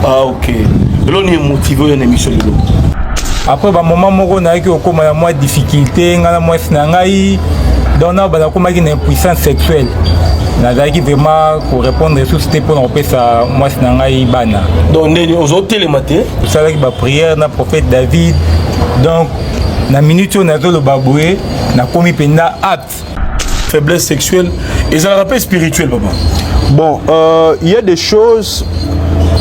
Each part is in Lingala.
Ah ok. Lelo ni motivé oyo na émission lelo. Après ba moment moko nayaki okoma ya mwa difficulté nga na mwasi na ngai donc na banda komaki na impuissance sexuelle nazalaki vraiment korépondre lisusu te mpona kopesa mwasi na ngai bana donc ndeni ozotelema te osalaki baprière na prophète david donc na minute oyo nazoloba boye nakomi mpenza apte faiblesse sexuelle ezalaka mpe spirituel papa bon euh, il euh, y a des choses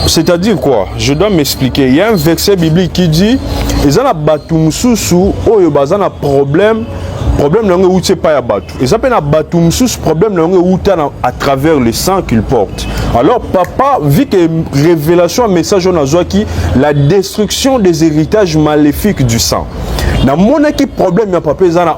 c'est-à-dire quoi je dois m'expliquer il y a un verset biblique qui dit eza na bato mosusu oyo baza na problème problème na yango euti epai ya bato eza mpe na bato mosusu problème na yango euta à travers le sang qu'il porte alors papa vu que révélation ya message oyo nazwaki la destruction des héritages maléfiques du sang namonaki problème ya papa eza na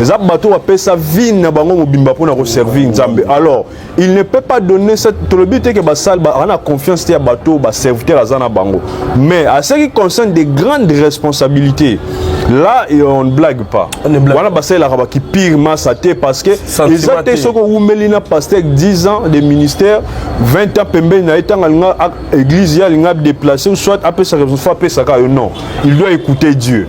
eza bato bapesa vie na bango mobimba mpo na koservir nzambe alors il ne peut pas donner cette tolobi te ke basali aza na confiance te ya bato baserviteur aza na bango mais à ce qui concerne des grandes responsabilités là et on ne blague pas wana basalelaka bakipire masa te parce que eza te soki owumeli na pasteur 10 ans de ministère 20 ans pembeni na ye ntango alinga église ye alinga déplace soit apesa raison soit apesaka yo non il doit écouter dieu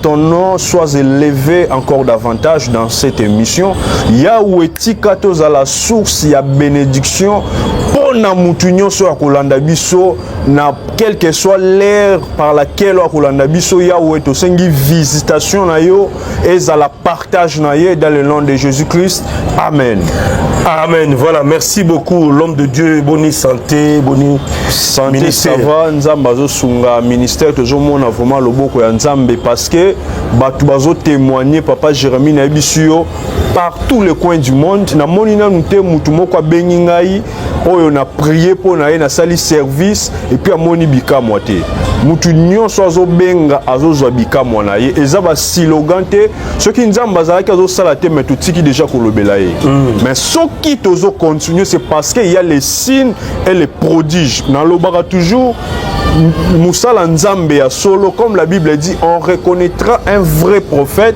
ton nom soit élevé encore davantage dans cette émission. Yahweh tika à la source ya bénédiction pour na mutu nyonso ya kolanda biso na quelle que soit l'ère par laquelle okolanda biso Yahweh tosengi visitation na yo ezala par Tage na ye dans le nom de Jésus-Christ. Amen. Amen. Voilà, merci beaucoup l'homme de Dieu. Bonne santé, bonne santé. Ministère. Ça va, Nzamba zo sunga ministère tozo mona vraiment loboko ya Nzambe parce que batu bazo témoigner papa Jérémie na ebisio par tous les coins du monde. Na moni nanu te mutu moko abengi ngai oyo na prie mpo na ye nasali service epuis amoni bikamwa te mutu nyonso azobenga azozwa bikamwa na ye eza basilogan te soki nzambe azalaki azosala te mai totiki deja kolobela ye mm. mais soki tozocontinue c'est parce que ya les signes et les prodiges nalobaka toujours mosala nzambe ya solo comme la bible dit on reconnaîtra un vrai prophète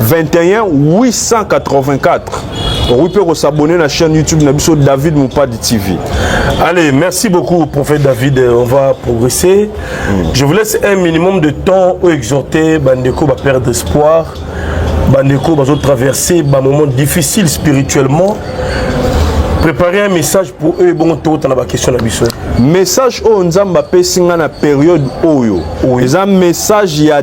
21 884 okoki mpe kosabone na chaîne youtube na biso david mopadi tv allez merci beaucoup prophète david euh, on va progresser mm. je vous laisse un minimum de temps oyo exhorte bandeko baperdre espoir bandeko bazotraverse bamoment difficile spirituellement préparer un message pour eux ebongo tokota na bakestion na biso message oyo nzambe apesi ngai na periode oyo eza message ya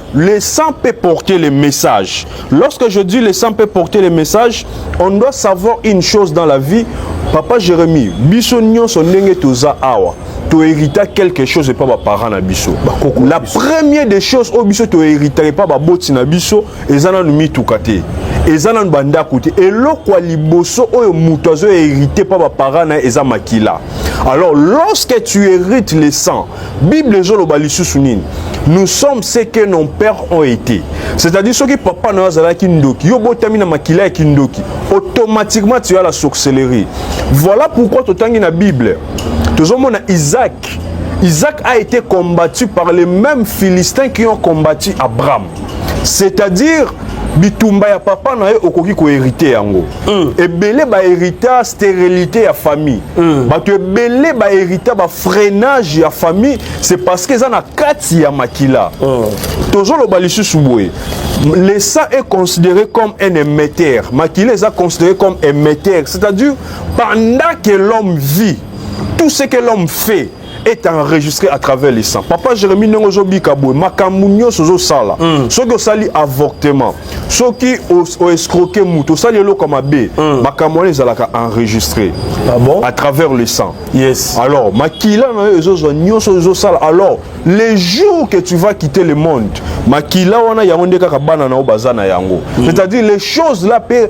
Le sang peut porter le message. Lorsque je dis le sang peut porter le message, on doit savoir une chose dans la vie. Papa Jérémie, biso nyonso ndenge toza awa, to hérita quelque chose epa ba parents na biso. La première des choses oyo biso to hérita epa ba boti na biso eza nanu mituka te. Eza nanu ba ndako te. Eloko ya liboso oyo moto azo hérite pa ba parents na ye eza makila. Alors lorsque tu hérites le sang, bible ezoloba lisusu nini nous sommes ce que nos pères ont été c'est-à-dire soki papa na yo azalaki ndoki yo botami na makila ya kindoki automatiquement tu as la sorcellerie voilà pourquoi totangi na bible tozomona isaac isaac a été combattu par les mêmes philistins qui ont combattu abraham c'est-à-dire bitumba ya papa na ye okoki koherite yango mm. ebele baherita stérilité ya famille mm. bato ebele baherita bafreinage ya famille c'est parce que eza na kati ya makila mm. tozoloba lisusu boye le sang est considéré comme un émetteur makila eza considéré comme émetteur c'est-à-dire pendant que l'homme vit tout ce que l'homme fait est enregistré à travers les sangs. Papa Jérémie ndenge zo bika boye makambo nyonso ozo sala. Mm. Soki osali avortement, soki o escroquer mutu, osali eloko mabe, mm. makambo wana ezalaka enregistré. Ah bon? À travers le sang. Yes. Alors, makila na yo ezo zo nyonso ozo sala. Alors, les jours que tu vas quitter le monde, makila wana yango nde kaka bana na yo baza na yango. Mm. C'est-à-dire les choses là pe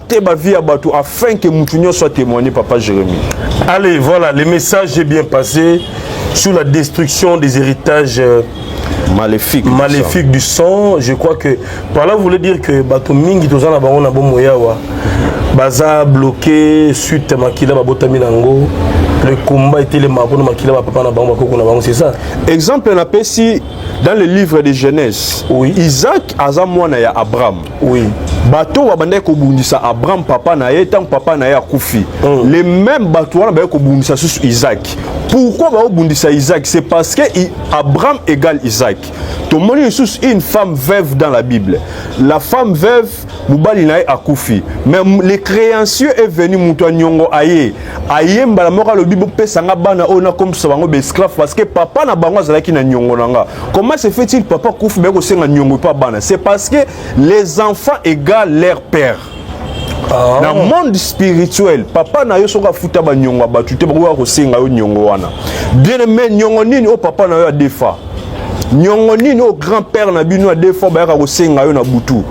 te ba vie ya bato afin que mutu nyonso atémoigne papa Jérémie. Allez, voilà, le message est bien passé sur la destruction des héritages euh, maléfiques maléfique du, sang. Je crois que par là vous voulez dire que bato mingi toza na bango na bomo yawa baza bloqué suite makila babotami na yango le combat était le mabo na makila ba papa na bango bakoko na bango c'est ça exemple na pesi dans le livre de Genèse oui Isaac aza mwana ya Abraham Oui. bato babandaki kobundisa abraham papa na ye ntango papa na ye akufi mm. le même bato wana bayaki kobundisa susu isaki pourquoi baobundisa isaki c'est parce que abraham égale isaki tomoni lisusu une femme veuve dans la bible la femme veuve mobali na ye akufi mais le créancieux est venu moto ya niongo aye aye mbala moko alobi bopesa nga bana oyo nakomisa bango baesclave parce que papa na bango azalaki na nyongo na nga comment se fait-il papa kufi baye kosenga nyongo epa bana c'est parce que les enfants égale leur père Oh. na monde spirituel papa na yo soki afuta banyongo ya bato te bakoki kosenga yo nyongo wana bien aime nyongo nini oyo papa na yo adefa nyongo nini oyo grand père na bino adefa bayaka kosenga yo na butu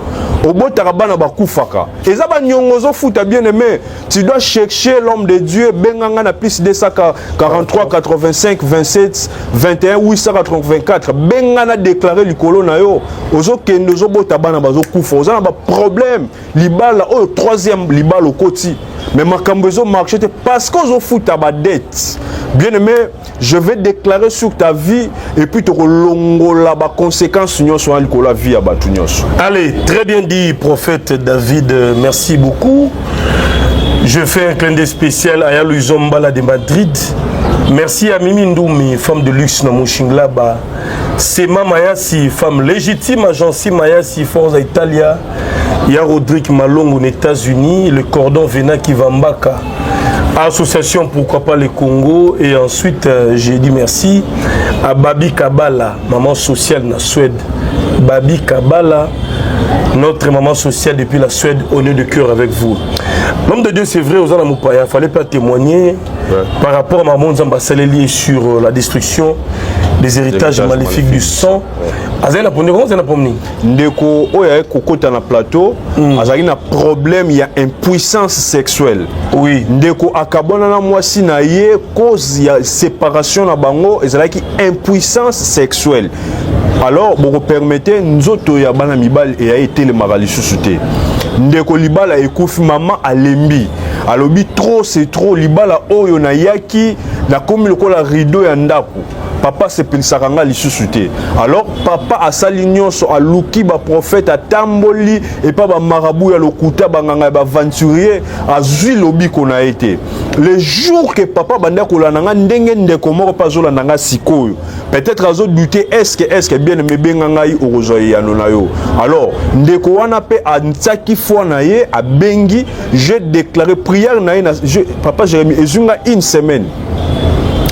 obotaka bana bakufaka eza banyongo ozofuta bien aime Tu dois chercher l'homme de Dieu, Benganga na plus 243, 85, 27, 21, 884. Bengana déclaré likolo na yo. Ozo kende ozo bota bana bazo kufa. Oza na ba problème. Libala oyo troisième libala okoti. Mais makambo ezo marché te parce que ozo futa ba dette. Bien aimé, je vais déclarer sur ta vie et puis tokolongola ba conséquences nyonso wana likolo ya vie ya bato nyonso allez très bien dit prophète david merci beaucoup je fais un clin d'œil spécial à yaluison mbala de madrid merci à mimi ndumi femme de luxe na mushinglaba sema mayasi femme légitime agenci mayasi forza italia ya rodrigue malongo na états-unis le cordon vena kivambaka association pourquoi pas le congo et ensuite euh, j'ai dit merci à babi kabala maman sociale na suède babi kabala notre maman sociale depuis la suède au nœud de cœur avec vous l'homme de dieu c'est vrai oza na mopaya fallait pas témoigner ouais. par rapport à maman nzambe asaleli sur euh, la destruction des héritages maléfiques du sang azali na pomni koma azali na pomni ndeko oyo ayaki kokota na plateau mm. azalaki na problème ya impuissance sexuelle oui ndeko akabwana na mwasi na ye cause ya séparation na bango ezalaki impuissance sexuelle alors bokopermete nzoto ya bana mibali eya etelemaka lisusu te ndeko libala ekufi mama alembi alobi trop c'est trop libala oyo nayaki nakomi lokola rideau ya ndako papa asepelisaka ngai lisusu te alors papa asali nyonso aluki baprofete atamboli epa bamarabu ya lokuta banganga ya baaventurier azwi lobiko na ye te le jour ke papa banda kolanda ngai ndenge ndeko moko mpe azolanda ngai sikoyo peut-être azodute eske eske bien mebenga ngai okozwa eyano na yo alors ndeko wana mpe antiaki foi na ye abengi je déclare prière na ye na papa jérémie ezwi ngai une semaine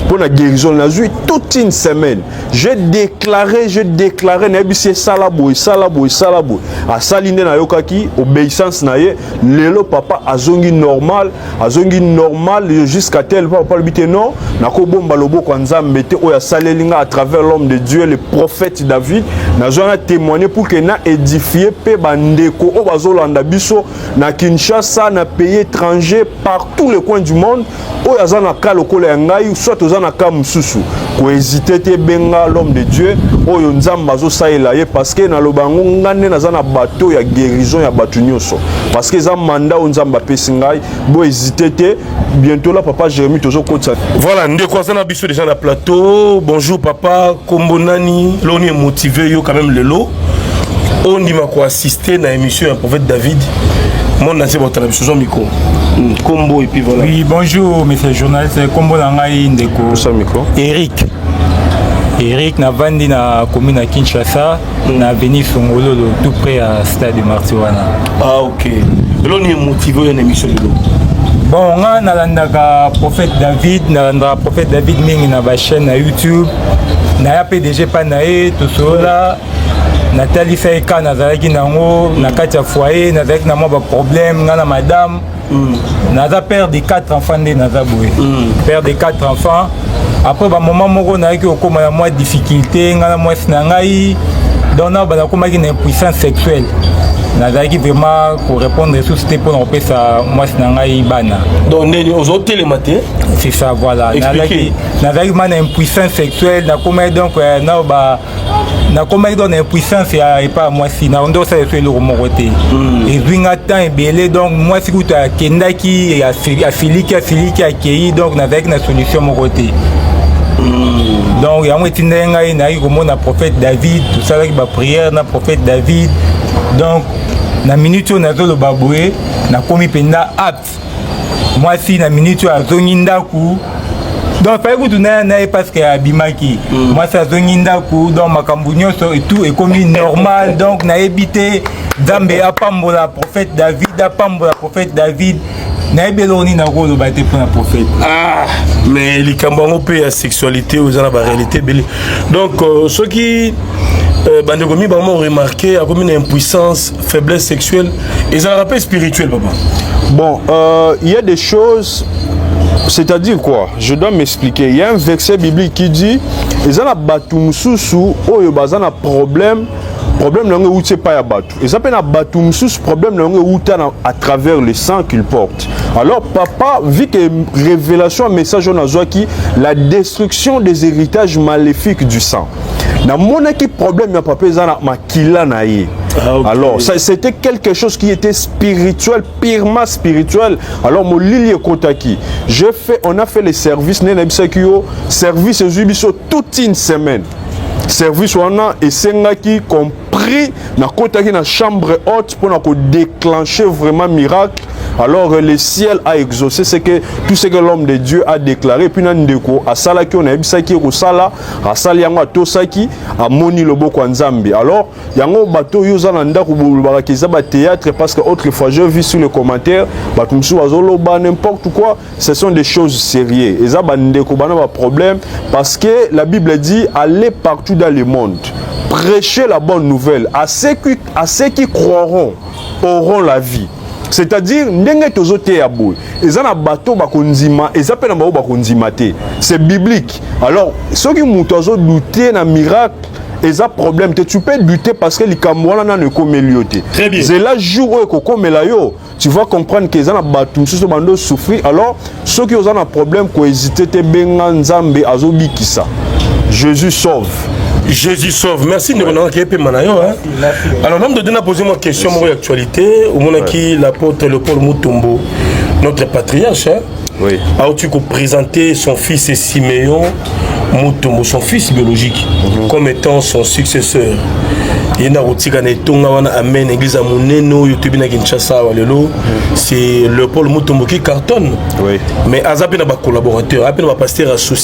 mpo na guérison nazwi toute une semaine je déclaré je déclaré nayebisi esala boye esala boye esala boye asali nde nayokaki obéissance na ye lelo papa azongi normal azongi normal jusqu'à tel papa alobi te non nakobomba loboko ya nzambe te oyo asaleli nga à travers l'homme de dieu le prophète david nazwa na témoigner pour que na édifie mpe bandeko oyo bazolanda biso na kinshasa na pays étranger partout le coin du monde oyo aza na ka lokola ya ngai soit oza na ka mosusu kohésite te benga l'homme de dieu oyo nzambe azosalela ye parce que naloba yango nga nde naza na bato ya guérison ya bato nyonso parce que eza manda oyo nzambe apesi ngai bohésite te bientôt la papa jérémi tozokotisa voilà ndeko aza na biso déjà na plateau bonjour papa kombo nani loni emotive yo quand même lelo ondima ko assister na émission ya prophète David monde na nse baotala biso zwa mikro nkombo hmm, epuis voilà oui bonjour monsieur journaliste nkombo na ngai ndeko mikro eric eric navandi na commune ya kinshasa hmm. na avenue songololo tout près ya stade de marti wana ah ok lelo ni emotive oyo na émission lelo bon nga nalandaka prophète david nalandaka prophète david mingi na bachaîne na youtube naya pdg epai na ye tosolola natalisa ye ka nazalaki nango na kati ya foyer nazalaki na mwa baproblème ngai na madame mm. naza père de quatre enfants nde naza boye mm. père de quatre enfants après bamoment moko nayaki kokóma na mwa difficulté ngai na mwasi na ngai donc na banakomaki na impuissance sexuelle nazalaki vraiment korépondre susu te mpo na kopesa mwasi na ngai bana donc ndeni ozotelema te c'est ça voilà nazalaki ma na impuissance sexuelle nakomaki donc eh, nao ba nakomaki donc na impuissance ya epa ya mwasi na nde osala esu eloko moko te hmm. ezwi nga temps ebele donc mwasi kutu akendaki asiliki asiliki akei donc nazalaki na solution moko te hmm. donc yango etindaki ngai nayaki komona prophète david tosalaki baprière na prophète david donc na minute oyo nazoloba boye nakomi mpenza apte mwasi na minute oyo azongi ndako donc fai kutu na na ye parceke abimaki mm. mwasi azongi ndako donc makambo nyonso etout ekomi normal donc nayebi te nzambe apambola prophète david apambola prophète david nayebi eloko nini nakoloba te mpona prophète ah, mais likambo yango mpe ya sexualité oza na baréalité ebele donc euh, soki euh, bandeko mibango remarke akomi na impuissance faiblesse sexuelle ezalaka mpe spirituel papa bon euh, il euh, y a des choses c'est-à-dire quoi je dois m'expliquer il y a un verset biblique qui dit eza na bato mosusu oyo baza na problème problème na yango euti epai ya bato eza mpe na bato mosusu problème na yango euta na à travers le sang qu'il porte alors papa vu que révélation ya message oyo nazwaki la destruction des héritages maléfiques du sang namonaki problème ya papa eza na kila na ye ah, okay. alors c'était quelque chose qui était spirituel purement spirituel alors molili ekotaki je fait on a fait les services nde nayebisaki yo service ezwi biso toute une semaine service wana esengaki compris nakotaki na chambre haute mpo na kodéclencher vraiment miracle alors euh, le ciel a exaucé ce que tout ce que l'homme de dieu a déclaré puis na ndeko asalaki oyo nayebisaki ye kosala asali yango atosaki amoni loboko ya nzambe alors yango bato oyo oza na ndako bolobaka eza batéâtre parce que autre fois je vu sur le commentaire bato mosusu bazoloba n'importe quoi ce sont des choses sérieux eza bandeko bana baproblème parce que la bible dit aller partout dans le monde prêcher la bonne nouvelle à ceux qui, à ceux qui croiront auront la vie c'est-à-dire ndenge tozoteya boye eza na bato bakondima eza mpe na bango bakondima te c'est biblique alors soki moto azodoute na miracle eza problème te tu peux douter parce que likambo wana nano ekomeli yo te zela jour oyo ekokomela yo tu vas comprendre que eza na bato mosusu bando osouffrir alors soki oza na problème kohésite te benga nzambe azobikisa jésus sauve jésus sauve merci ndeko nanga keyepema na yo Alors, l'homme de Dieu n'a posé une question sur l'actualité. Au moment qui l'apôtre le Paul Mutombo, notre patriarche, hein, oui. a aussi présenté son fils Siméon Mutombo, son fils biologique, mm -hmm. comme étant son successeur. ye nda kotika na etonga wana amen église ya monene oyo toyebi na kinshasa awa lelo c'est leopold mutombo qui cartonne oui. mais aza mpe na bacollaborateur aza mpe na bapaster ya souci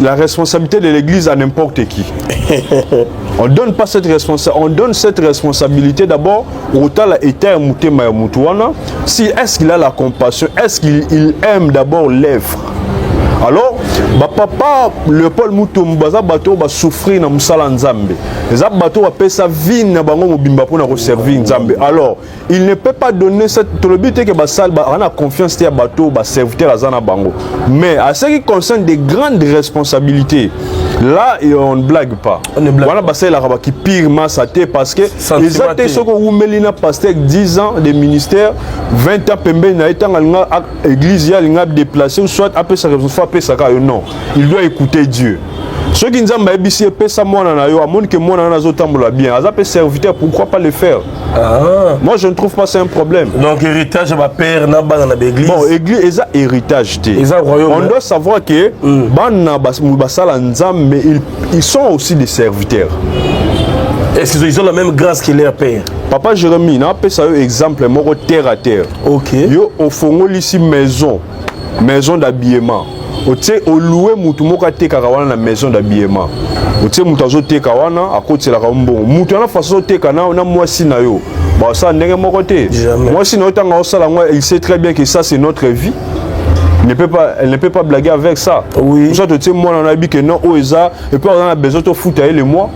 la responsabilité de l'église à n'importe qui. on donne pas cette responsa on donne cette responsabilité d'abord au tala état mutema ya mutu wana si est-ce qu'il a la compassion est-ce qu'il il aime d'abord l'œuvre alors bapapa leopold mutombo baza bato oyo basouffrir na mosala nzambe eza bato oyo bapesa vine na bango mobimba mpo na koservir nzambe alors il ne peut pas donner cette tolobi te que basal on a confiance ya bateau ba serviteur aza na bango mais à ce qui concerne des grandes responsabilités là et on ne blague pas wana basalelaka baki pire masa te parce que eza te soki owumeli na pasteur 10 ans de ministère 20 ans pembeni na ye ntango alinga église ye alinga adeplace ou soit apesaka reponse fo apesaka yo non il doit écouter dieu soki nzambe ayebisi ye pesa mwana na yo amoni ke mwana wana azotambola bien aza mpe serviteur pourquoi pas le faire Ah. Moi je ne trouve pas c'est un problème. Donc héritage ya ba père na bana na l'église. Bon église eza héritage te. Eza royaume. On doit savoir que mm. bana basala nzambe mais ils, ils sont aussi des serviteurs. Est-ce qu'ils ont la même grâce que leur père? Papa Jérémie, na pesa yo exemple moko terre à terre. OK. Yo ofongolisi maison. maison d'habillement otie oloue motu moko atekaka wana na maison d'habillement otie motu azoteka wana akotiselaka mbongo motu wana fasi ozoteka na, na mwasi na yo basala ndenge moko te mwasi na yo ntango aosala yango il sait très bien que ça c'est notre vie ne peut pas, elle ne peut pas blaguer avec ça. Oui. Pour ça, tu sais, moi, on a dit que non, oh, et ça, et puis on a besoin de foutre le mois.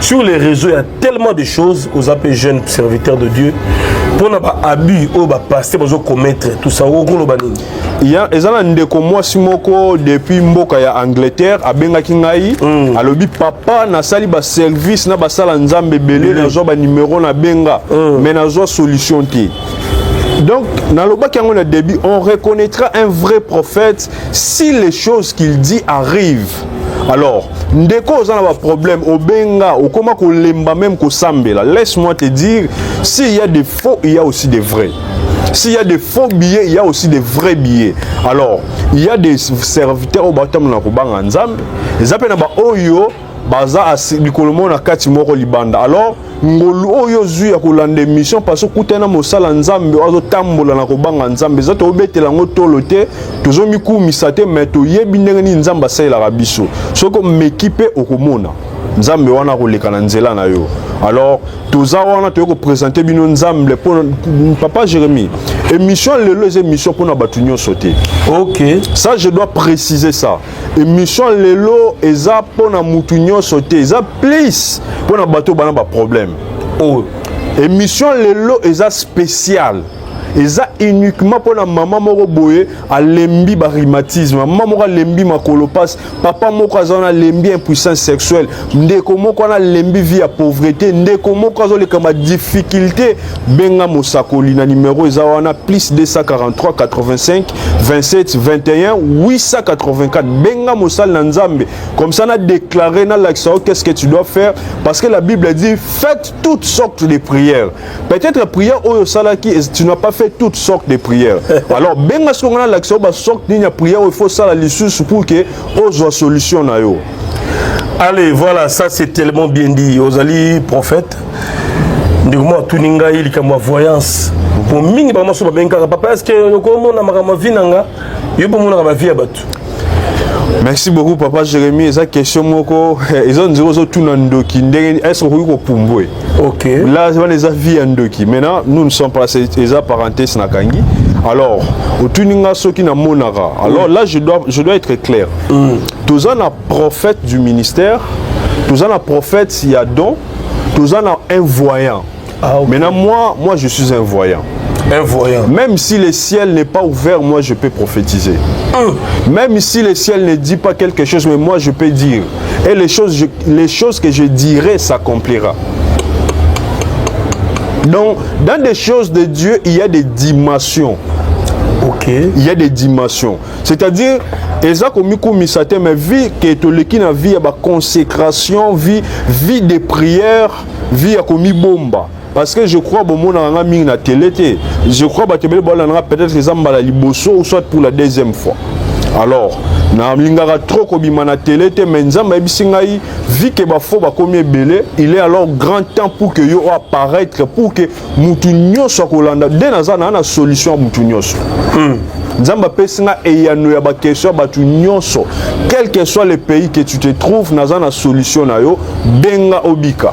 sur les réseaux il y a tellement de choses aux appels jeunes serviteurs de Dieu pour na ba abus au ba passé bazo commettre tout ça au kolo banini il y a ezana ndeko mwasi moko depuis mboka ya Angleterre abengaki ngai mm. alobi papa na sali ba service na ba sala nzambe belé mm. na zo ba numéro na benga mm. mais na zo solution te donc nalobaki yango na début on reconnaîtra un vrai prophète si les choses qu'il dit arrivent alors ndeko oza na baproblème obenga okoma kolemba meme kosambela laisse moi te dire s'il y a des faux il y a aussi des vrais s'il y a des faux billets il y a aussi des vrais billets alors il y a des serviteurs oyo batambola na kobanga nzambe eza mpe na baoyo baza mikolo moko na kati moko libanda alors ngolu oyo ozwi ya kolanda émission parce okutani na mosala nzambe azotambola na kobanga nzambe eza tobetela yango tolo te tozomikumisa te mai toyebi ndenge nini nzambe asalelaka biso soki omeki mpe okomona nzambe wana akoleka na nzela na yo alors toza wana toyei kopresente bino nzambe mpo papa jérémi émission lelo eza émission mpo na bato nyonso te ok ça je dois préciser ça émission lelo eza pona mutu nyonso te eza please pona bato bana ba problème oyo oh. émission lelo eza spéciale eza uniquement mpona mama moko boye alembi barhumatisme mama moko alembi makolo mpasi papa moko aza wana alembi impuissance sexuelle ndeko moko wana lembi vie ya pauvrete ndeko moko azoleka ma difficulté benga mosakoli na numero eza wana plus 243 85 27 21 884 benga mosali na nzambe comme ça na déclaré nalakisa yo qu'est-ce que tu dois faire parce que la bible dit faites toutes sortes de prières peut-être prière oyo osalaki tu n'as pas fait toutes sortes de prières alors benga soki nga nalakisa yo basorte nini ya prière oyo il faut osala lisusu pour que ozwa solution na yo allez voilà ça c'est tellement bien dit ozali prophète ndeko moko atuni ngai likambo ya voyance po mingi bango maso babengi kaka papa eske okomona makambo ya vi na nga yo bomonaka bavi ya bato merci beaucoup papa jérémi eza question moko ezo nzela ozotuna ndoki ndenge est ce okoki kopumbwe ok là wana eza vie ya ndoki maintenant nous ne sommes pas eza parenthèse na kangi alors otuni nga soki namonaka alors là je dois, je dois être clair mm. toza na prophète du ministère toza na prophète ya don toza na un voyant ah, okay. maintenant moi moi je suis un voyant un voyant. Même si le ciel n'est pas ouvert, moi je peux prophétiser. Hum. Même si le ciel ne dit pas quelque chose, mais moi je peux dire. Et les choses, je, les choses que je dirai s'accomplira. Donc, dans des choses de Dieu, il y a des dimensions. Ok. Il y a des dimensions. C'est-à-dire, eza komikumisa te mais vie ke etoleki na vie ya baconsécration vie vie de prière vie ya komibomba parce que je crois bomonaka nga mingi na tele te je crois bato ebele baolanda nga peut-être eza mbala liboso ou soit pour la deuxième fois alors nalingaka trop kobima na tele te mais nzambe ayebisi ngai vi ke bafo bakomi ebele il est alors grand temps pour que yo apparaître pour que motu nyonso akolanda nde naza naa na solution ya motu nyonso hmm. nzambe apesi nga eyano ya bakestion ya bato nyonso quel que soit le pays que tu te trouves naza na solution na yo benga obika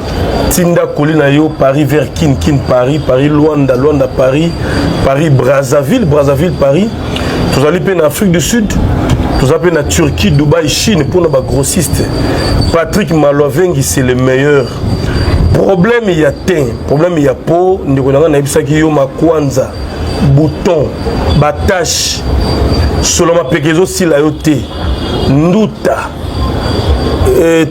tinda koli na yo paris vers kin kin paris paris luanda luanda paris paris brazzaville brazzaville paris tozali mpe na afrique du sud toza mpe na turquie dubai chine mpona bagrossiste patrick maloavengi c'est le meilleur problème ya tein problème ya po ndeko na ngai nayebisaki yo makwanza bouton batache solo mapeka ezosila yo te nduta eh,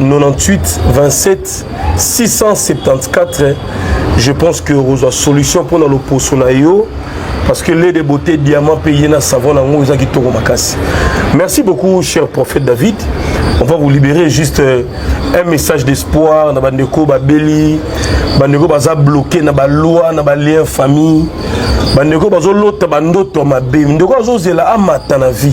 98 27 674 je pense que okozwa solution mpona loposo na yo parce que lait de beauté diamant payé na savon nango eza kitoko makasi merci beaucoup cher prophète david on va vous libérer juste euh, un message d'espoir na bandeko babeli bandeko baza bloqué na baloi na balien famille bandeko bazolota bandoto mabe ndeko azozela amata na vie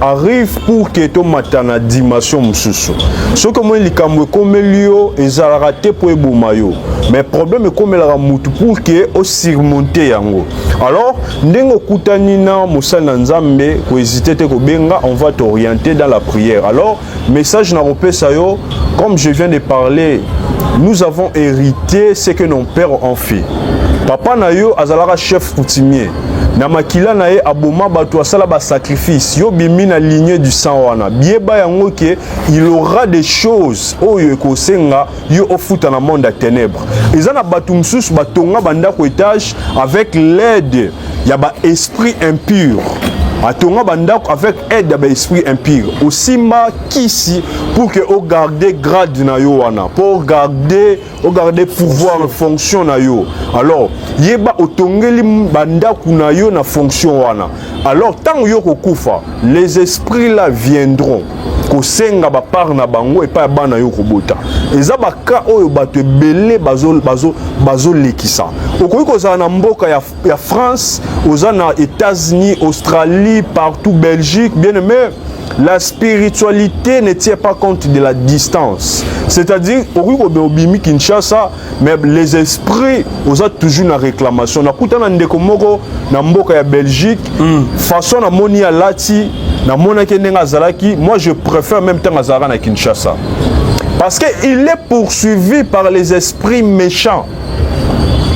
arrive pour que tomata na dimension mosusu soki omoni likambo ekomeli yo ezalaka te mpo eboma yo mais problème ekomelaka motu pour que osurmonte yango alors ndenge okutani na mosali na nzambe kohésite te kobenga on va t'orienter dans la prière alors Message na kopesa yo, comme je viens de parler, nous avons hérité ce que nos pères ont fait. Papa na yo azalaka chef coutumier. na makila na ye aboma bato asala basacrifice yo bimi na ligne du sang wana biyeba yango ke il aura des choses oyo ekosenga yo ofuta na monde ya ténèbre eza na bato mosusu batonga bandako etage avec l'aide ya ba esprit impur atonga bandako avec aide ya ba esprit impur osimba kisi pour que o garder grade na yo wana po garder o garder pouvoir fonction na yo alors yeba otongeli bandako na yo na fonction wana alors ntango yo kokufa les esprits là viendront kosenga bapart na bango epai ya bana yo kobota eza baka oyo bato ebele bazolekisa bazo, bazo okoki kozala na mboka ya, ya france oza na états-unis australie partout belgique bien aimé la spiritualité ne tient pas compte de la distance c'est-à-dire okoki kobima obimi kinshasa mais les esprits oza toujours na réclamation nakuta na ndeko moko na mboka ya belgique mm. façon namoni alati namonaki ndenge azalaki moi je préfère même ntango azalaka na kinshasa parce que il est poursuivi par les esprits méchants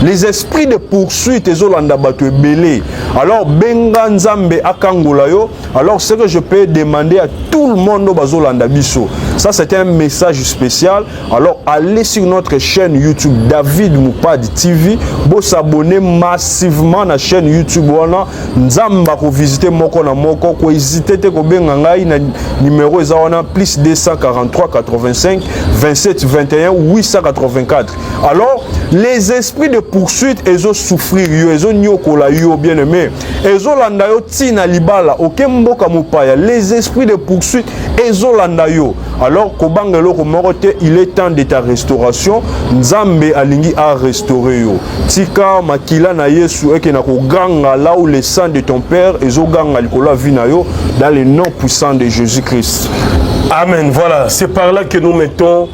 les esprits de poursuite ezolanda bato ebele alors benga nzambe akangola yo alors ce que je peux demander à tout le monde oyo bazolanda biso ça c'est un message spécial Alors allez sur notre chaîne YouTube David Mupad TV, vous s'abonner massivement à la chaîne YouTube wana nzamba ko visiter moko na moko ko hésiter te ko benga ngai na numéro eza wana plus 243 85 27 21 884. Alors les esprits de poursuite ezo souffrir yo ezo nyokola yo bien aimé ezolanda yo tii na libala oke mboka mopaya les esprits de poursuite ezolanda yo alors kobanga eloko moko te il est temps de ta restauration nzambe alingi a restaurer yo tika makila na yesu eke na koganga là où le sang de ton père ezoganga likolo ya vie na yo dans le nom puissant de jésus christ amen voilà c'est par là que nous mettons